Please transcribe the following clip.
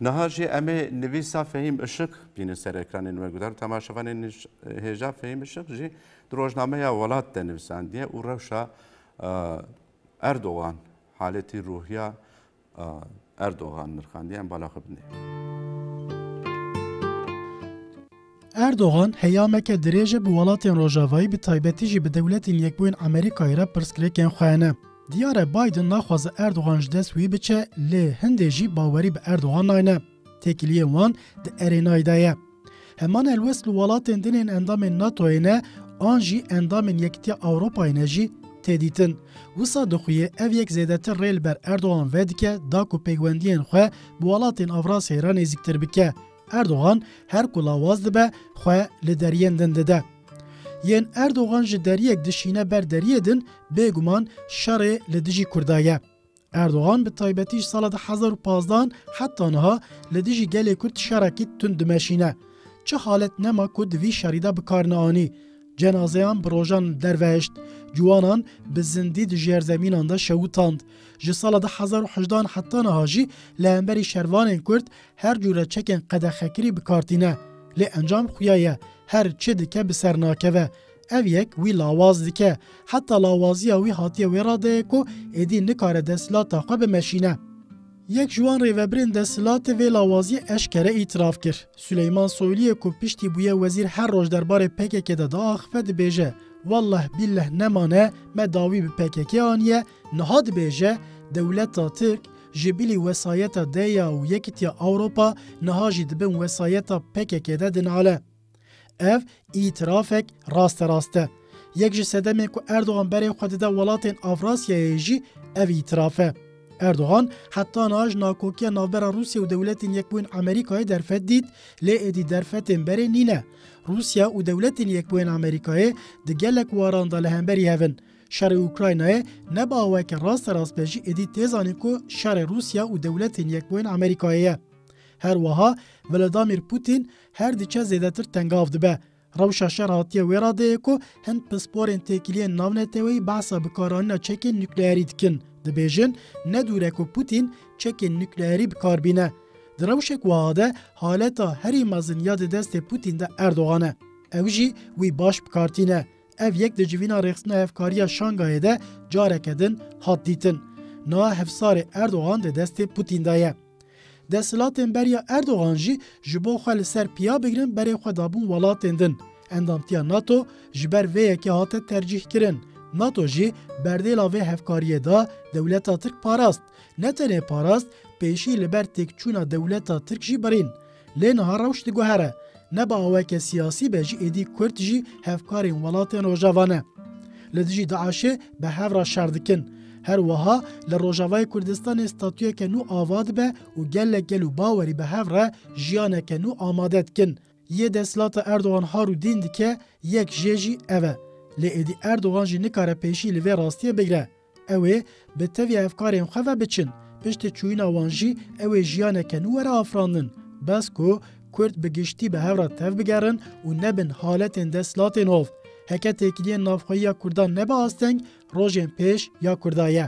Niha jî em ê nivîsa Fehîm Işık bînin ser ekranên we. Guhdarû temaşevanên hêja Fehîm Işık jî di rojnameya Welat de nivisandiye û rewşa Erdogan haletî ruhiya Erdogan nirxandiye. Em bala xwe bidin. Erdogan heyameke dirêj e bi welatên Rojavayî bi taybetî jî bi Dewletên Yekbûyên Amerîkayê re pirsgirêkên xwe hene. Diyar e Biden naxwaze Erdogan ji dest wî biçe lê hindê jî bawerî bi Erdogan nayne. Têkiliyên wan di erênayê de ye. Heman helwest li welatên din ên endamên NATO'yê ne an jî endamên Yekitiya Ewropayê ne jî tê dîtin. Wisa dixuye ev yek zêdetir rê li ber Erdogan vedike da ku pêkwendiyên xwe bi welatên Avrasyayê re nêzîktir bike. Erdogan her ku lawaz dibe xwe li deriyên din dide. Yên Erdogan ji deriyek dişîne ber deriyê din bêguman şerê li dijî Kurda ye. Erdogan bi taybetî ji sala du hezar û pazdeh an heta niha li dijî gelê Kurd şerekî tund dimeşîne. Çi halet nema ku di vî şerî de bi kar neanî. Cenazeyan bi rojan li derve hişt, ciwanan bi zindî di jêrzemînan de şewitand. Ji sala du hezar û hejdeh an heta niha jî li hemberî şervanên Kurd Her cure çekên qedexekirî bi kar tîne, lê encam xuya ye, her çi dike bi ser nakeve. Ev yek wî lawaz dike. Heta lawaziya wî hatiye wê radeyê ku êdî nikare desthilata xwe bimeşîne. Yek ji wan rêvebirên desthilatê vê lawaziyê eşkere îtiraf kir. Suleyman Soyliyê ku piştî bûye wezîr her roj derbarê pkk de diaxife dibêje, Welleh billeh nemane me dawî bi pkk anîye, niha dibêje dewleta tirk, Ji bilî wesayeta DEYA û Yekîtiya Ewropa niha jî di bin wesayeta PKK'ê de dinale. Ev îtirafek rasterast e. Yek ji sedemên ku Erdogan berê xwe dide welatên Avrasyayê jî ev îtiraf e. Erdogan heta niha ji nakokiya navbera Rûsya û Dewletên Yekbûyîn Amerîkayê derfet dît, lê êdî derfetên berê nîne. Rûsya û Dewletên Yekbûyên Amerîkayê di gelek waran de li hemberî hev in. Şerê Ukraynayê ne bi awayeke rasterast be jî êdî tê zanîn ku şerê Rûsya û Dewletên Yekbûyên Amerîkayê ye. Her wiha Vladamîr Pûtîn her diçe zêdetir tengav dibe. Rewşa şer hatiye wê radeyê ku hin pisporên têkiliyên navneteweyî behsa bikaranîna çekên nukleerî dikin, dibêjin ne dûr e ku Pûtîn çekên nukleerî bi kar bîne. Di rewşek wiha de haleta herî mezin ya di destê Pûtîn de Erdogan e. Ew jî wî baş bi kar tîne. Ev yek di civîna rêxistina hevkariya Şangayê de careke din hat dîtin. Niha hevsarê Erdogan di destê Putîn de ye. Desthilatên beriya Erdogan jî ji bo xwe li ser piya bigirin berê xwe dabûn welatên din. Endamtiya NATO ji ber vê yekê hate tercîhkirin. NATO jî berdêla vê hevkariyê da dewleta Tirk parast. Ne tenê parast, pêşî li ber têkçûna dewleta Tirk jî birîn. Lê niha rewş diguhere, ne bi aweke siyasî be jî êdî Kurd jî hevkarên welatên Rojava ne. Li dijî DAIŞ'ê bi hev re şer dikin. Her wiha li Rojavayê Kurdistanê statuyeke nû ava dibe û gelek gel û bawerî bi hev re jiyaneke nû amade dikin. Yê desthilata Erdogan har û dîn dike yek jê jî ev e. Lê êdî Erdogan jî nikare pêşî li vê rastiyê bigire. Ew ê bi tevî efkarên xwe ve biçin. Piştî çûyîna wan jî ew ê jiyaneke nû were afirandin. Bes ku Kurd bi giştî bi hev re tevbigerin û nebin haletên desthilatên hov. Heke têkiliyên navxweyiya Kurdan nebe asteng, rojên pêş ya Kurda ye.